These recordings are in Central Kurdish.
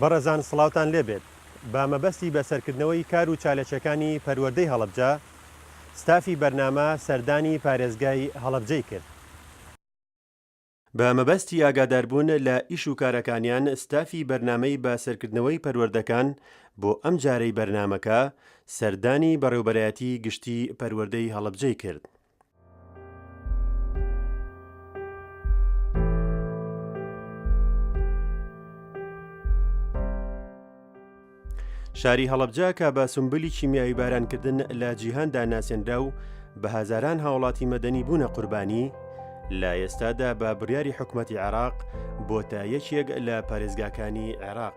بەڕێزان سڵاوتان لێ بێت، بە مەبەستی بەسەرکردنەوەی کار و چالەکیەکانی پەروەردەی هەڵەبجە، ستافی بەرنامە سەردانی پارێزگای هەڵەبجەی کرد. بە مەبەستی ئاگاداربوون لە ئیش و کارەکانیان ستافی بەرنامەی بە سەرکردنەوەی پەروەردەکان بۆ ئەم جارەی بەرنامەکە سەردانی بەڕێوبەرایەتی گشتی پەروەردەی هەڵەبجەی کرد. شاری هەڵبجە کە بە سمبلی کیمیایی بارانکردن لە جیهاندا ناسێنرا و بە هزاران هاوڵاتی مەدەنی بوونە قوربانی لە ئێستادا بە بڕیاری حکوومەتتی عێراق بۆتە یەکێک لە پارێزگاکانی عێراق.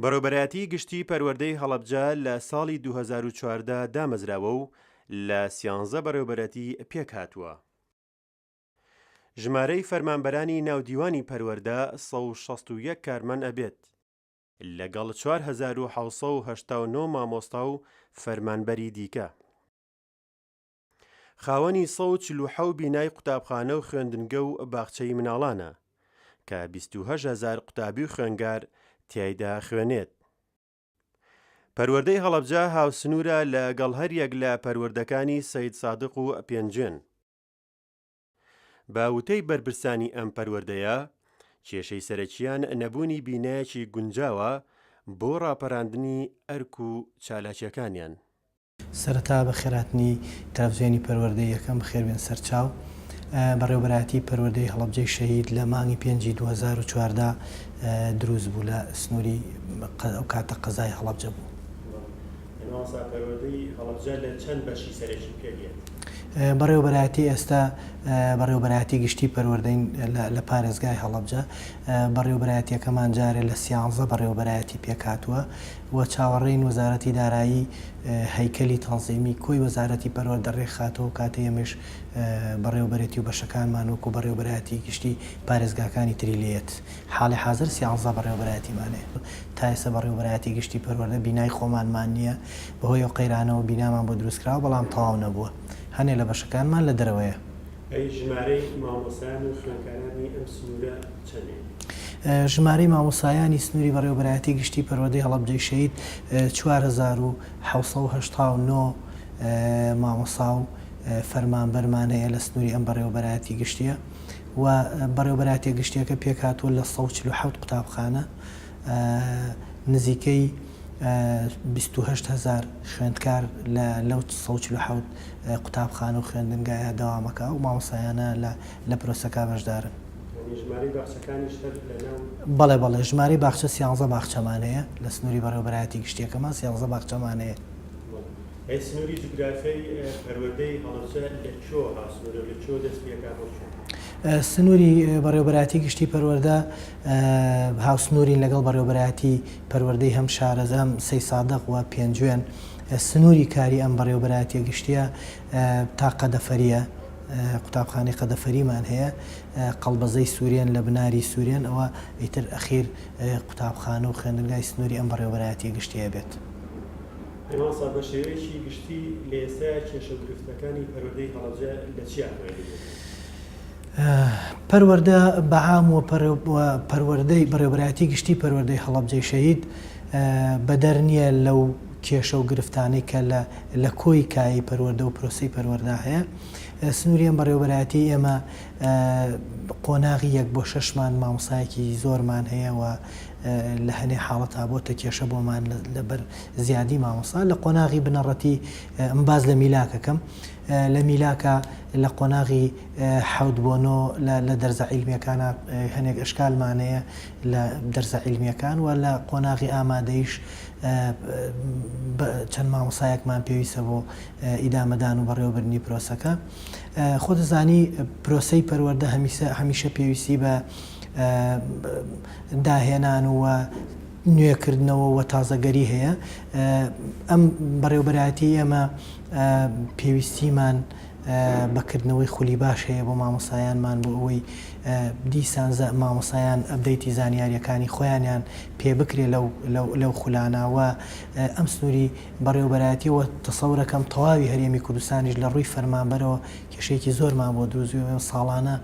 بەڕێوبەرایەتیی گشتیی پەروەردەی هەڵەبجە لە ساڵی دوو هەزار و چواردە دامەزراوە و لە سیانزە بەڕێوبەرەتی پێک هاتووە. ژمارەی فەرمانبەرانی ناو دیوانی پەروەردە سەد و شەست و یەک کارمەن ئەبێت، لەگەڵ چوار هەزار و حەوت سەد و هەشتا و نۆ مامۆستا و فەرمانبەری دیکە. خاوەنی سەد و چل و حەوت بینای قوتابخانە و خوێندنگە و باخچەی مناڵانە، کە بیست و هەشت هەزار قوتابی و خوێنگار تیایدا خوێنێت. پەروەردەی هەڵەبجە هاوسنوورە لە گەڵ هەر یەک لە پەروەردەکانی سەیدسادق و پێنجوێن. بە وتەی بەرپرسانی ئەم پەروەردەیە، کێشەی سەرەکییان نەبوونی بینایەکی گونجاوە بۆ ڕاپەراندنی ئەرک و چالاکییەکانیان. سەرەتا بە خێرهاتنی تەلەفزیۆنی پەروەردەی یەکەم بەخێربێن سەرچاو بەڕێوەبەرایەتی پەروەردەی هەڵەبجەی شەهید لە مانگی پێنجی دوو هەزار و چواردە دروست بوو لە سنوری ئەو کاتە قەزای هەڵەبجە بوو. مامۆستا پەروەردەی هەڵەبجە لە چەند بەشی سەرەکی پێک دێت؟ بەڕێوەبەرایەتی ئێستا بەڕێوەبەرایەتی گشتی پەروەردەین لە پارێزگای هەڵەبجە بەڕێوەبەرایەتیەکەمان جارێ لە سیانزە بەڕێوەبەرایەتی پێکهاتووە و چاوەڕێین وەزارەتی دارایی هەیکەلی تەنزیمی کۆی وەزارەتی پەروەردە رێکخاتەوەو کاتێ ئێمەیش بەڕێوەبەرێتی و بەشەکانمان وەکو بەڕێوەبەرایەتی گشتی پارێزگاکانی تری لێت حاڵی حازر سیانزە بەڕێوەبەرایەتیمانەیە تائێستا بەڕێوەبەرایەتی گشتی پەروەردە بینای خۆمانمان نیە بەهۆی ئەو قەیرانەوە بینامان بۆ دروستکراوە بەڵام تەواو نەبووە هەنێ لەبەشەکانمان لەدەرەوەیە. ئەی ژمارەی مامۆستایان و خوێندکارانی ئەم سنوورە چەندین؟ ژمارەی مامۆستایانی سنووری بەڕێوەبەرایەتی گشتی پەروەردەی هەڵەبجەی شەهید چوار هەزار و حەوت سەد و هەشتا و نۆ مامۆستا و فەرمانبەرمان هەیە لە سنووری ئەم بەڕێوەبەرایەتی گشتییە و بەڕێوەبەرایەتیە گشتییەکە پێکهاتووە لە سەد و چل و حەوت قوتابخانە نزیکەی بیست و هەشت هەزار خوێندکار لە لەو سەد و چل و حەوت قوتابخانە و خوێندنگایە دەوامەکە ئەو مامۆستایانە لە لە پرۆسەکە بەشدارن. یانی ژمارەی باخچەکانیش هەر لەناو. بەڵێ بەڵێ ژمارەی باخچە سیانزە باخچەمان هەیە لە سنوری بەڕێوەبەرایەتی گشتیەکەمان سیانزە باخچەمان هەیە. بەڵێ ئەی سنوری جوگرافیای پەروەردەی هەڵەبجە لە کوێوە هاوسنورە و لە کوێوە دەست پێکا بۆ کوێ؟ سنوری بەڕێوەبەرایەتی گشتی پەروەردە. هاوسنوورین لەگەڵ بەڕێوەبەرایەتی پەروەردەی هەم شارەزا هەم سەیسادق و پێنجوێن، سنووری کاری ئەم بەڕێوەبەرایەتیە گشتیە تا قەدەفەریە، قوتابخانەی قەدەفەریمان هەیە، قەڵبەزەی سوورێن لە بناری سوورێن، ئەوە ئیتر ئەخیر قوتابخانە و خوێندنگای سنووری ئەم بەڕێوەبەرایەتیە گشتیە بێت. پێناسە، بە شێوەیەکی گشتی لە ئێستایا کێشە و گرفتەکانی پەروەردەی هەڵەبجە لە چیا خوێندووە؟ پەروەردە بەعام و پەروەردەی بەڕێوەبەرایەتی گشتی پەروەردەی هەڵەبجەی شەهید بەدەر نییە لەو کێشە و گرفتانەی کە لە کۆی کایەی پەروەردە و پرۆسەی پەروەردا هەیە. سنووری ئەم بەڕێوەبەرایەتیەی ئێمە قۆناغی یەک بۆ شەشمان مامۆستایەکی زۆرمان هەیە و لە هەنێ حاڵەتا بۆتە کێشە بۆمان لەبەر زیادی مامۆستا لە قۆناغی بنەڕەتی ئەم باس لە میلاکەکەم لە میلاکا لە قۆناغی حەوت بۆ نۆ لە لە دەرزە عیلمیەکانا هەنێک ئەشکالمان هەیە لە دەرزە عیلمیەکان وە لە قۆناغی ئامادەیش چەند مامۆسایەکمان پێویستە بۆ ئیدامەدان و بەڕێوەبردنی پرۆسەکە خۆ دەزانی پرۆسەی پەروەەردە هەمیسە هەمیشە پێویستی بە داهێنان و نوێکردنەوە و تازەگەری هەیە ئەم بەڕێوبەرایەتی ئێمە پێویستیمان بە کردنەوەی خولی باش هەیە بۆ مامۆستایانمان بۆ ئەوەی دیسان مامۆستایان ئەپدەیتی زانیاریەکانی خۆیانیان پێ بکرێ لەو خولانە وە ئەم سنوری بەڕێوەبەرایەتی وە تەسەورەکەم تەواوی هەرێمی کوردستانیش لە ڕووی فەرمانبەرەوە کێشێکی زۆرمان بۆ دروزیەوە ساڵانە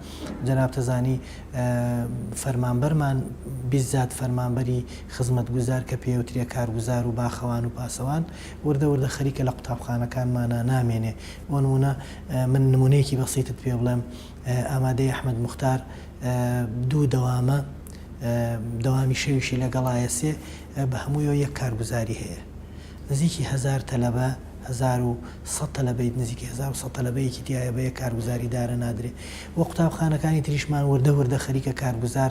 جەنابتەزانی فەرمانبەرمان بیزات فەرمانبەری خزمەت گوزار کە پێوترێ کارگوزار و باخەوان و پاسەوان وردە وردە خەریکە لە قوتابخانەکانمانا نامێنێ، بۆ نموونە من نموونەیەکی بەسیتت پێ بڵێم ئامادەی ئەحمەد موختار دوو دەوامە دەوامی شەویشی لەگەڵایە سێ بە هەموویەوە یەک کارگوزاری هەیە نزیکی هەزار تەلەبە هەزار و سەد تەلەبەی نزیکی هەزار و سەد تەلەبەیەکی تیایە بە یەک کارگوزاری دارە نادرێ و قوتابخانەکانی تریشمان وردە وردە خەریکە کارگوزار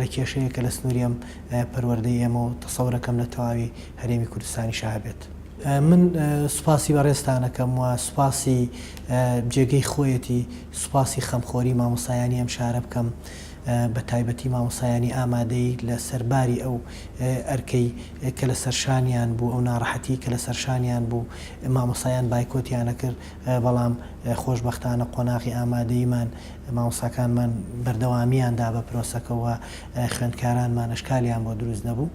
لە کێشەیە کە لە سنووری ئەم پەروەردەی ئێمە و تەسەورەکەم لە تەواوی هەرێمی کوردستانیشە هەبێت. من سوپاسی بەڕێزتان ئەکەم و سوپاسی جێگەی خۆیەتی سوپاسی خەمخۆری مامۆستایانی ئەم شارە بکەم بە تایبەتی مامۆستایانی ئامادەیی لە سەر باری ئەو ئەرکەی کە لە سەر شانیان بوو ئەو ناڕەحەتی کە لە سەر شانیان بوو مامۆستایان بایکۆتیان ئەکرد بەڵام خۆشبەختانە قۆناغی ئامادەییمان مامۆستاکانمان بەردەوامییان دا بە پرۆسەکە و خوێندکارانمان ئەشکالیان بۆ دروست نەبوو.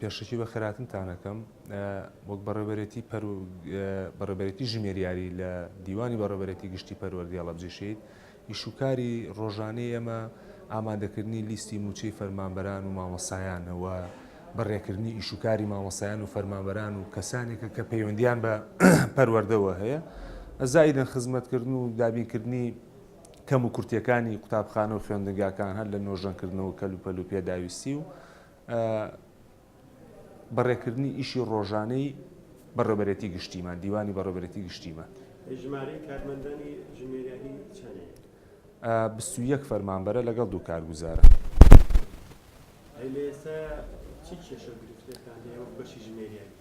پێشەکی بە خێراتنتان ئەکەم. وەک بەڕێوبەرێتی پەرو بەڕێوبەرێتی ژمێریاری لە دیوانی بەڕێوبەرێتی گشتی پەروەردی هەڵەبجەی شەهید، ئیش و کاری ڕۆژانەی ئێمە ئامادەکردنی لیستی مووچەی فەرمانبەران و مامۆستایانە و بەڕێکردنی ئیش و کاری مامۆستایان و فەرمانبەران و کەسانێکە کە پەیوەندیان بە پەروەردەوە هەیە زائیدەن خزمەتکردن و دابینکردنی کەم و کورتیەکانی قوتابخانە و خوێندنگاکان هەر لە نۆژەنکردنەوە کەلوپەل و پێداویستی و بەڕێکردنی ئیشی ڕۆژانەی بەڕێوبەرێتی گشتیمان، دیوانی بەڕێوبەرێتی گشتیمان. ژمارەی کارمەندانی ژمێریاری چەنێ؟ بیست و یەک فەرمانبەرە لەگەڵ دوو کارگوزارە. ئەی لە ئێستا چی کێشە و گرفتێکتان هەیە وەک بەشی ژمێریاری؟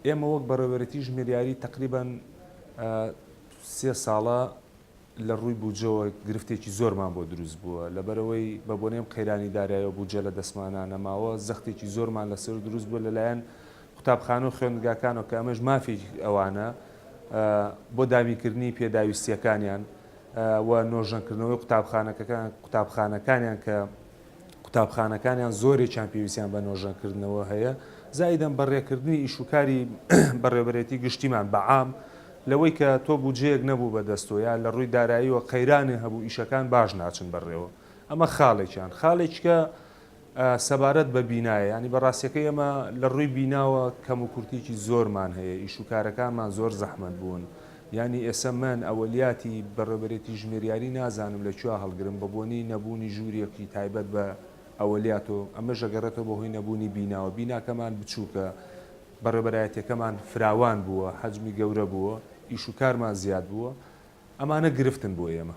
ئێمە وەک بەڕێوبەرێتی ژمێریاری تەقریبەن سێ ساڵە، لە ڕووی بودجەوە گرفتێکی زۆرمان بۆ دروست بووە، لەبەرئەوەی بە بۆنەی ئەم قەیرانی دارایەوە بودجە لە دەستمانا نەماوە، زەختێکی زۆرمان لەسەر دروست بووە لەلایەن قوتابخانە و خوێندگاکانەوە کە ئەمەش مافێکی ئەوانە بۆ دابینکردنی پێداویستییەکانیان و نۆژەنکردنەوەی قوتابخانەکەکان قوتابخانەکانیان کە قوتابخانەکانیان زۆرێکیان پێویستیان بە نۆژەنکردنەوە هەیە، زائیدەن بە رێکردنی ئیش و کاری بەڕێوەبەرێتی گشتیمان بە عام، لەوەی کە تۆ بودجەیەک نەبوو بە دەست تۆ یا لە رووی داراییەوە قەیرانێ هەبوو ئیشەکان باش ناچن بە رێوە. ئەمە خاڵێکیان. خاڵێکیکە سەبارەت بە بینایە، یانی بە راستیەکەی ئێمە لە رووی بیناوە کەموکورتیەکی زۆرمان هەیە، ئیش و کارەکانمان زۆر زەحمەت بوون، یانی ئێسە من ئەوەلیاتی بەڕێوبەرێتی ژمێریاری نازانم لە کوێا هەڵگرم بە بۆنی نەبوونی ژووریەکی تایبەت بە ئەوەلیات و ئەمەش ئەگەڕێتەوە بە هۆی نەبوونی بیناوە بیناکەمان بچووکە بەڕێبەرایەتیەکەمان فراوان بووە حەجمی گەورە بووە ئیش و کارمان زیاد بووە ئەمانە گرفتن بۆ ئێمە.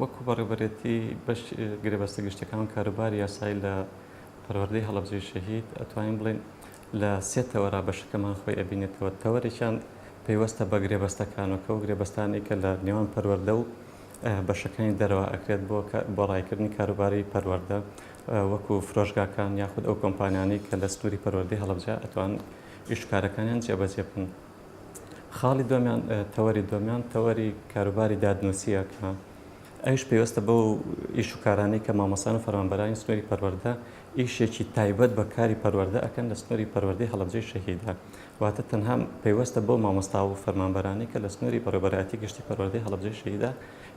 وەکو بەڕێوەبەرێتی بەش گرێبەستە گشتیەکان و کاروباری یاسایی لە پەروەردەی هەڵەبجەی شەهید ئەتوانین بڵێین لە سێ تەوەرا بەشەکەمان خۆی ئەبینێتەوە تەوەرێکیان پەیوەستە بە گرێبەستەکانەکە و گرێبەستانەی کە لە نێوان پەروەردە و بەشەکانی دەرەوە ئەکرێت بۆ بۆ ڕایکردنی کاروباری پەروەردە وەکو فرۆشگاکان یاخود ئەو کۆمپانیانەی کە لە سنووری پەروەردەی هەڵەبجە ئەتوان ئیشکارەکانیان جێبەجێ بکەن. خاڵی دووەمیان تەوەری دووەمیان تەوەری کاروباری دادنووسیە کە ئەوش پێوەستە بەو ئیش و کارانەی کە مامۆسان و فەرمانبەرانی سنووری پەروەردە ئیشێکی تایبەت بە کاری پەروەردە ئەکەن لە سنووری پەروەردەی هەڵەبجەی شەهیدان واتە تەنها پێوەستە بەو مامۆستا و فەرمانبەرانی کە لە سنووری بەڕێوەبەرایەتی گشتی پەروەردەی هەڵەبجەی شەهیدا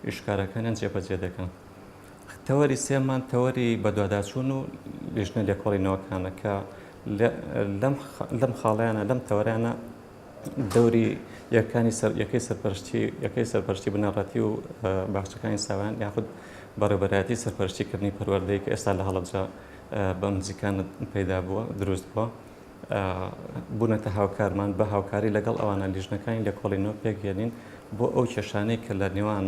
ئیشکارەکانیان جێبەجێ دەکەن تەوەری سێمان تەوەری بەدواداچوون و لیژنە لێکۆڵینەوەکانە کە لەم خاڵیانە لەم تەوەرانە دەوری یەکانی سەر یەکەی سەرپەرشتی یەکەی سەرپەرشتی بنەڕەتی و باخچەکانی ساوان یاخود بەڕێبەراتی سەرپەرشتیکردنی پەروەردەیە کە ئێستا لە هەڵەبجە بە نزیکان پەیدا بووە دروست بووە بوونەتە هاوکارمان بە هاوکاری لەگەڵ ئەوانە لیژنەکانی لێکۆڵینەوە پێکێنین بۆ ئەو کێشانەی کە لە نێوان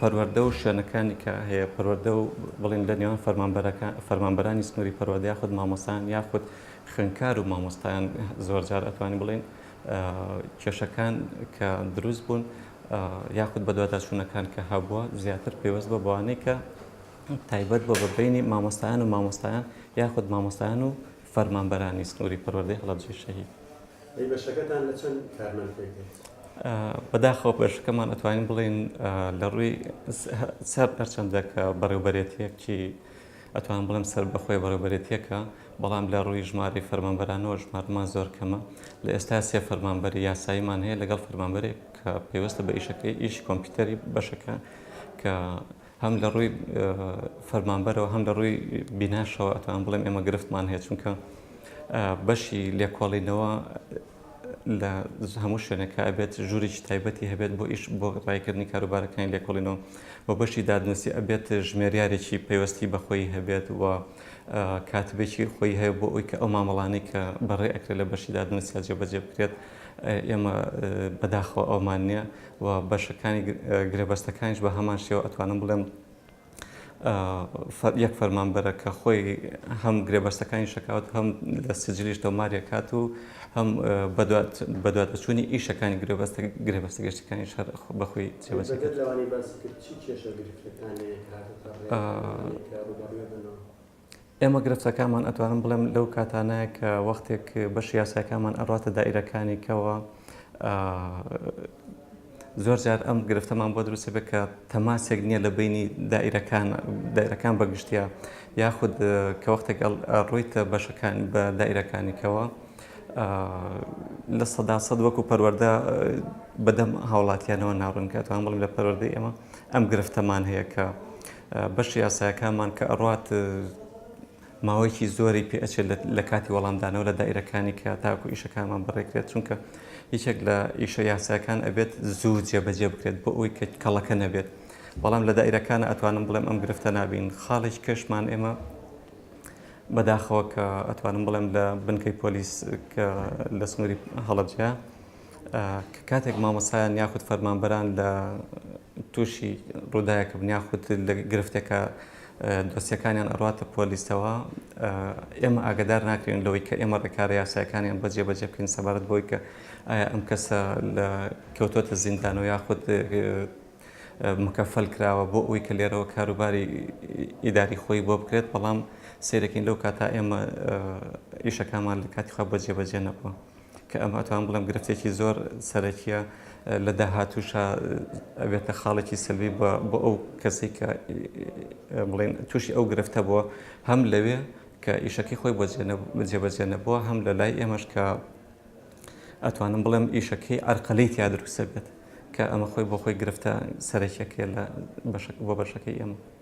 پەروەردە و شوێنەکانی کە هەیە پەروەردە و بڵین لە نێوان فەرمانبەرەکان فەرمانبەرانی سنووری پەروەردە یاخود مامۆستایان یاخود خوێندکار و مامۆستایان زۆرجار ئەتوانین بڵێن کێشەکان کە دروست بوون یاخود بەدواداچوونەکان کە هەبووە زیاتر پێوەست بە بەوانەی کە تایبەت بە بەبینی مامۆستایان و مامۆستایان یاخود مامۆستایان و فەرمانبەرانی سنووری پەروەردەی هەڵەبجەی شەهید ئەی بەشەکەتان لە چەند کارمەند پێک دێت؟ بەداخەوە بەشەکەمان ئەتوانین بڵێین لە ڕووی سەر هەرچەندە کە بەڕێوبەرێتیەکی ئەتوان بڵێم سەر بەخۆی بەڕێوبەرێتیەکە بەڵام لە ڕووی ژماری فەرمانبەرانەوە ژمارمان زۆر کەمە لە ئێستا سێ فەرمانبەری یاساییمان هەیە لەگەڵ فەرمانبەرێک کە پێوەستە بە ئیشەکەی ئیشی کۆمپیوتەری بەشەکە کە هەم لە ڕووی فەرمانبەرەوە هەم لە ڕووی بیناشەوە ئەتوانم بڵێم ئێمە گرفتمان هەیە چونکە بەشی لێکۆڵینەوە لە هەموو شوێنەکە ئەبێت ژوورێکی تایبەتی هەبێت بۆ ئیش بۆ ڕایکردنی کاروبارەکانی لێکۆڵینەوە بۆ بەشی دادنووسی ئەبێت ژمێریارێکی پەیوەستی بەخۆی هەبێت و کاتبێکی خۆی هەیە بۆ ئەوی کە ئەو مامەڵانی کە بەڕێ ئەکرێت لە بەشی دادنووسیا جێبەجێ بکرێت ئێمە بەداخەوە ئەومان نییە و بەشەکانی گرێبەستەکانیش بە هەمان شێوە ئەتوانم بڵێم یەک فەرمانبەرە کە خۆی هەم گرێبەستەکانی شکاوت هەم لە سجلیش تۆمارێکات و هەم بەدواتەچوونی ئیشەکانی گرێبەستە گرێبەستە گەشتەکانی شەر بەخۆی جێبەجێ ئێمە گرفتەکانمان ئەتوانم بڵێم لەو کاتانەیە کە وەختێک بەشی یاساکانمان ئەڕاتە دائیرەکانی کەوە زۆر جار ئەم گرفتەمان بۆ دروستە بێت کە تەماسێک نییە لە بینی دائیرەکان دایرەکان بەگشتیا یاخود کە وەختێک ڕوویتە بەشەکان بە دایرەکانیکەوە لە سەدا سەد وەکو پەروەەردە بەدەم هاوڵاتیانەوە ناڕوونکاتوان بڵم لە پەروەەردە ئێمە ئەم گرفتەمان هەیە کە بەشی یاسایەکانمان کە ئەڕوات ماوەیەکی زۆری پێ ئەچێت لە لە کاتی وەڵامدانەوە لە دایرەکانی کە تاکو ئیشەکانمان بەڕێکرێت چونکە یەکێک لە ئیشە یاساکان ئەبێت زوو جێبەجێ بکرێت بۆ ئەوی کە کەڵەکە نەبێت بەڵام لە دایرەکان ئەتوانم بڵێم ئەم گرفتە نابین خاڵێک کەشمان ئێمە بەداخەوە کە ئەتوانم بڵێم لە بنکەی پۆلیس کە لە سنووری هەڵەبجە کە کاتێک مامۆستایان یاخود فەرمانبەران لە تووشی ڕووداێکە بن یاخود لە گرفتێکە دۆسیەکانیان ئەڕاتە پۆلیسەوە ئێمە ئاگدار ناکرێن لەوەی کە ئێمە ڕێکارە یاسایەکانیان بەجێ بەجێ بکەین سەبارەت بۆی کە ئایا ئەم کەسە لە کەوتۆتە زیندان و یاخود مکەفەل کراوە بۆ ئەوی کە لێرەوە کاروباری ئیداری خۆی بۆ بکرێت بەڵام سیرەکەین لەو کاتا ئێمە ئیشەکانمان لە کاتیخوا بەجێ بەجێ نەبووە. کە ئەمە ئەتوانم بڵێم گرفتێکی زۆر سەرەکیە لە داهاتووشا ئەبێتە خاڵێکی سەلبی بە بۆ ئەو کەسی کە بڵێن تووشی ئەو گرفتە بووە هەم لەوێ کە ئیشەکەی خۆی بۆ جێبەجێ نەبووە هەم لە لای ئێمەش کە ئەتوانم بڵێم ئیشەکەی ئەرقەلەی تیا دروستە بێت کە ئەمە خۆی بۆ خۆی گرفتە سەرەکیەکە لە بۆ بەشەکەی ئێمە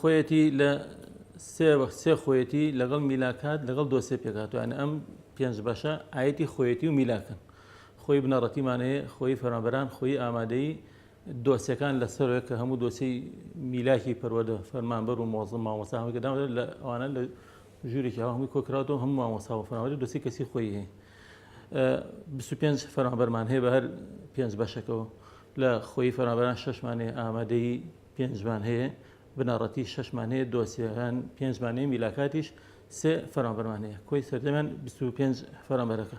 خۆیەتی لە سێ وەخت سێ خۆیەتی لەگەڵ میلاکات لەگەڵ دۆسێ پێکاتوانە ئەم پێنج بەشە ئاەتی خۆیەتی و میلاکەن خۆی بنەڕەتیمانەیە خۆی فەرمەبەران خۆی ئامادەی دۆسیەکان لە سەرۆک کە هەموو دۆسی میلاکی پەروەدە فەرمانبەر و مۆزم مامۆسا هەمەکە داوە لە ئەوانە لە ژوورێکی هەوا هەمووی کۆکراوەوە هەموو مامۆسا و فەرمانبەری دۆسی کەسی خۆی هەیە 25 فەرمانبەرمان هەیە بە هەر پێنج بەشەکەەوە لە خۆی فەرمانبەران شەشمانێ ئامادەی پێنجمان هەیە بنەڕەتی شەشمان هەیە دۆسیەکان پێنجمان هەیە میلاکاتیش سێ فەرمانبەرمان هەیە کۆی سەردەمان 25 فەرمانبەرەکە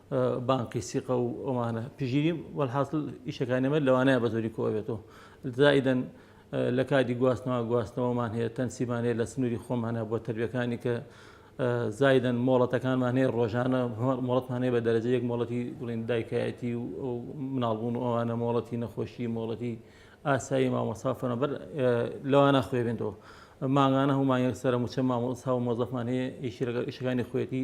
بانقی سیقە و ئەوانە پژیری وەحاصل ئیشەکانی ئەمە لەوانەیە بە زۆری کۆ بێتەوە زائیدەن لە کاتی گواستنەوە گواستنەوەمان هەیە تەنسیمان هەیە لە سنووری خۆمانە بۆ تەربیەکانی کە زایدن مۆڵەتەکانمان هەیە ڕۆژانە مۆڵەتمان هەیە بە دەرەجە یەک مۆڵەتی بڵین دایکایەتی و مناڵبوون و ئەوانە مۆڵەتی نەخۆشی مۆڵەتی ئاسایی مامۆسافەنە بەر لەوانە خوێ بێنەوە ماگانە هەمان یەکسەرە موچە مامۆسا و مۆزەفمان هەیە ئیشەکانی خوێتی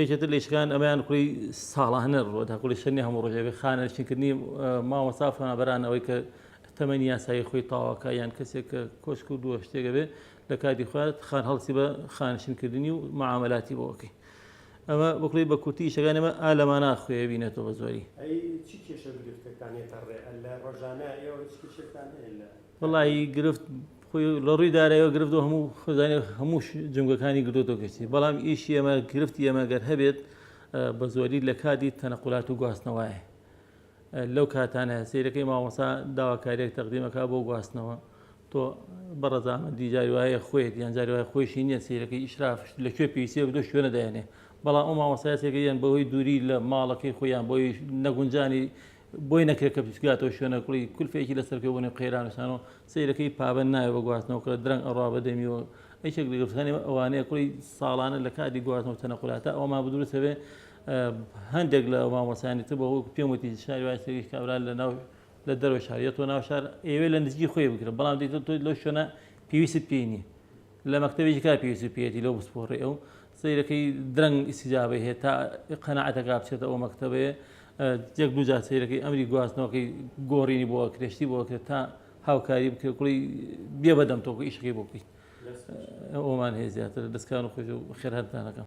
یەکێ تر لە ئیشەکان ئەمەیان کۆی ساڵانە ڕووە تاکو لە شەنی هەموو ڕۆژێ بێ خانە شتکردنی مامۆستا فەنابەران ئەوەی کە تەمەنی یاسایی خۆی تاواکە یان کەسێک کە کۆشک و دووە شتێکە بێ لە کاتی خوات خان هەڵسی بە خانشنکردنی و معاملاتی بۆکەی ئەمە بکڵی بە کورتی شەکان ئەمە ئالەما ناخوێ بینێتەوە زۆری چی کێشە گرفتەکانێتە ڕێ لە ڕۆژانە ئێوە چ کێشێکتان هەیە لە وەڵاهی گرفت خۆی لە ڕووی دارایەوە گرفت و هەموو خزانێ هەموو جمگەکانی گرۆتۆ گەشتی بەڵام ئیش ئێمە گرفت ئێمە گەر هەبێت بە زۆری لە کاتی تەنەقلات و گواستنەوەیە لەو کاتانە سیرەکەی ماوەسا داواکاریێک تەقدیمەکە بۆ گواستنەوە تۆ بەڕزانە دیجاری وایە خۆیت یان جاری وای خۆشی نییە سیرەکەی ئیشرافش لە کوێ پێویستی بە دۆ شوێنە دایێنێ بەڵام ئەو ماوەسایەتێکە یان بەهۆی دووری لە ماڵەکەی خۆیان بۆی نەگونجانی بۆی نەکرێت کە بچگاتەوە شوێنە کوڵی کولفێکی لەسەر بکە بۆنێ قەیرانشانەوە سیرەکەی پابەن نایە بە گواستنەوە کە درەنگ ئەڕا بەدەمیەوە ئەیشێک لەگەفتخانی ئەوانەیە کوڵی ساڵانە لە کاتی گواستنەوە چەنە قولاتە ئەوما بدروسە بێ هەندێک لە مامۆسانی تر بەوە پێم وتی شاری وای سەریش کابرا لە ناو لە دەرەوە شار یە تۆ ناو شار ئێوێ لە نزیکی خۆی بکرە بەڵام دیتە تۆی لەو شوێنە پێویست پێی نییە لە مەکتەبێکی کار پێویستی پێیەتی لەو بسپۆڕێ ئەو سەیرەکەی درەنگ ئیسیجابەی هەیە تا قەنەعەتەکە بچێتە ئەو مەکتەبەیە یەک دوو جار سەیرەکەی ئەمری گواستنەوەکەی گۆڕینی بۆ کرێشتی بۆ کرێت تا هاوکاری بکرێت کوڵی بێ بەدەم تۆکو ئیشەکەی بۆ بکەیت ئەومان هەیە زیاتر دەستکان و خۆش و خێرهەرتانەکەم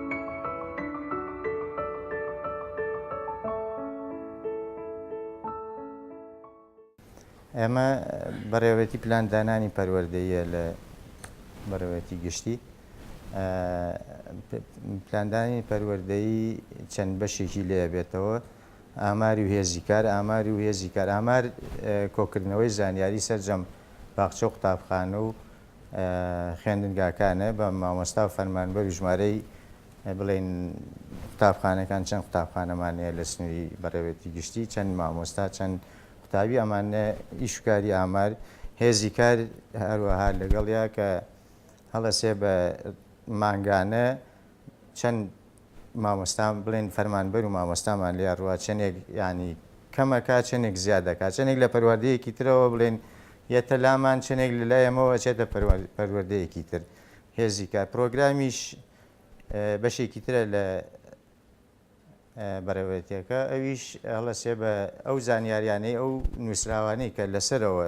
ئێمە بەڕێوەتی پلان دانانی پەروەردەیە لە بەڕێوەتی گشتی پلاندانی پەروەردەی چەند بەشێکی لێ بێتەوە ئاماری و هێزی کار ئاماری و هێزی کار ئامار کۆکردنەوەی زانیاری سەرجەم باخچە و قوتابخانە و خوێندنگاکانە بە مامۆستا و فەرمانبەر و ژمارەی بڵێن قوتابخانەکان چەند قوتابخانەمانەیە لە سنووری بەڕێوەتی گشتی چەند مامۆستا چەند قوتابی ئەمانە ئیشکاری ئامار هێزی کار هەروەها لەگەڵیا کە هەڵەسێ بە مانگانە چەند مامۆستا بڵێن فەرمانبەر و مامۆستامان لێیا ڕوا چەندێک یانی کەمەکا چەندێک زیاد دەکات چەندێک لە پەروەردەیەکی ترەوە بڵێن یەتە لامان چەندێک لە لای ئەمەوە ئەچێتە پەروەردەیەکی تر هێزی کار پرۆگرامیش بەشێکی ترە لە بەڕێوەتیەکە ئەویش هەڵەسێ بە ئەو زانیاریانەی ئەو نووسراوانەی کە لەسەرەوە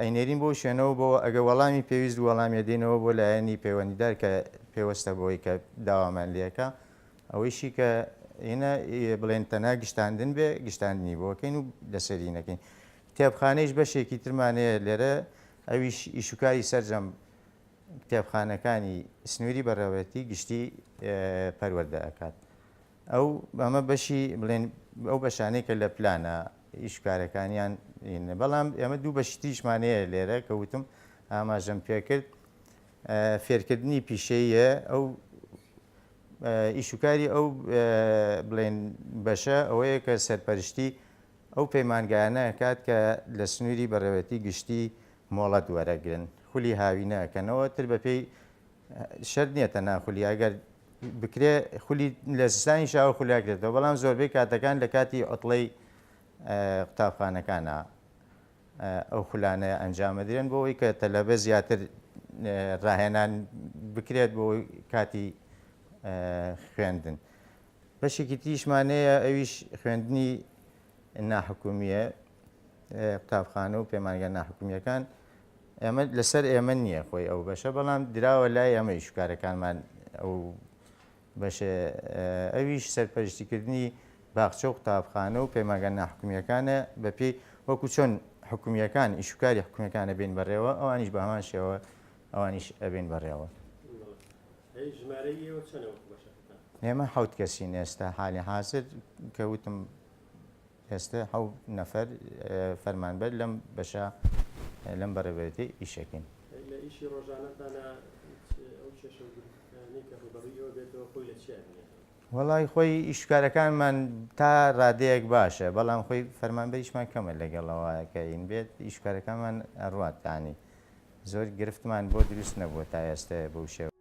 ئەینێرین بۆ شوێنەوە بۆوە ئەگە وەڵامی پێویست وەڵامیە دێنەوە بۆ لایەنی پەیوەندیدار کە پێوەستە بۆی کە داوامان لەکە ئەوەیشی کە ئێنە بڵێن تەنها گشتاندن بێ گشتاندنی بۆکەین و لەسەری نەکەین کتێبخانەیش بەشێکی ترمانەیە لێرە ئەویش ئیشوکاری سرجەم کتێبخانەکانی سنووری بەڕێوەتی گشتی پەروەەردە ئەکات ئەو ئەمە بەشی بڵێن ئەو بەشانەی کە لە پلانە ئیش کارەکانیان ئینە بەڵام ئێمە دوو بەشی تریشمانەیە لێرە کە وتم ئاماژەم پێکرد فێرکردنی پیشەیە ئەو ئیشوکاری ئەو بڵێن بەشە ئەوەیە کە سەرپەرشتی ئەو پەیمانگایانە ئەکات کە لە سنووری بەڕێوەتی گشتی مۆڵەت وەرەگرن خولی هاوینە ئەکەنەوە تر بەپێی شەرت نییە تەنها خولی ئەگەر بکرێ خولی لە سستانی شاوە خولیاکرێتەوە بەڵام زۆربەی کاتەکان لە کاتی ئۆتڵەی قوتابخانەکانە ئەو خولانە ئەنجامەدرێن بۆەوەی کە تەلەبە زیاتر ڕاهێنان بکرێت بۆ کاتی خوێندن بەشێکی تیشمانەیە ئەویش خوێندنی ناحکومیە قوتابخانە و پەیمانگە ناحکومییەکان ئێمە لەسەر ئێمە نییە خۆی ئەو بەشە بەڵام دراوە لای ئەمە ئیشکارەکانمان ئەو بەش ئەویش سەرپەرشتیکردنی باخچە و قوتابخانە و پەیمانگە ناحکومییەکانە بەپی وەکو چۆن حکومیەکان ئیشکاری حکومیەکانە بین بەڕێوە ئەوانیش بە هەمان شێوە ئەوانیش ئەبین بەڕێوە ئێمە حوت کەسین ئێستا حالی حاضر کەوتم ئێستە حەو نەفەر فەرمانبەر لەم بەشە لەم بەڕێوەبەرێتی ئیشەکەین. لە ئیشی ڕۆژانەتانا هیچ ئەو کێشە و گرفتانەی کە ڕووبەڕووی ئێوە بێتەوە خۆی لە چیا بینێتەوە؟ وەڵا خۆی ئیش و کارەکانمان تا ڕادەیەک باشە بەڵام خۆی فەرمانبەریشمان کەمە لەگەڵ ئەوە کە هین بێت ئیش و کارەکانمان ئەڕوات یانی زۆر گرفتمان بۆ دروست نەبووە تا ئێستە بەو شێوە.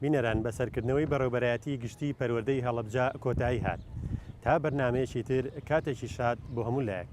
بینەران بەسەرکردنەوەی بەڕێوبەرایەتی گشتی پەروەردەی هەڵەبجە کۆتایی هات تا بەرنمەیەکی تر کاتێکی شاد بۆ هەموو لایەک.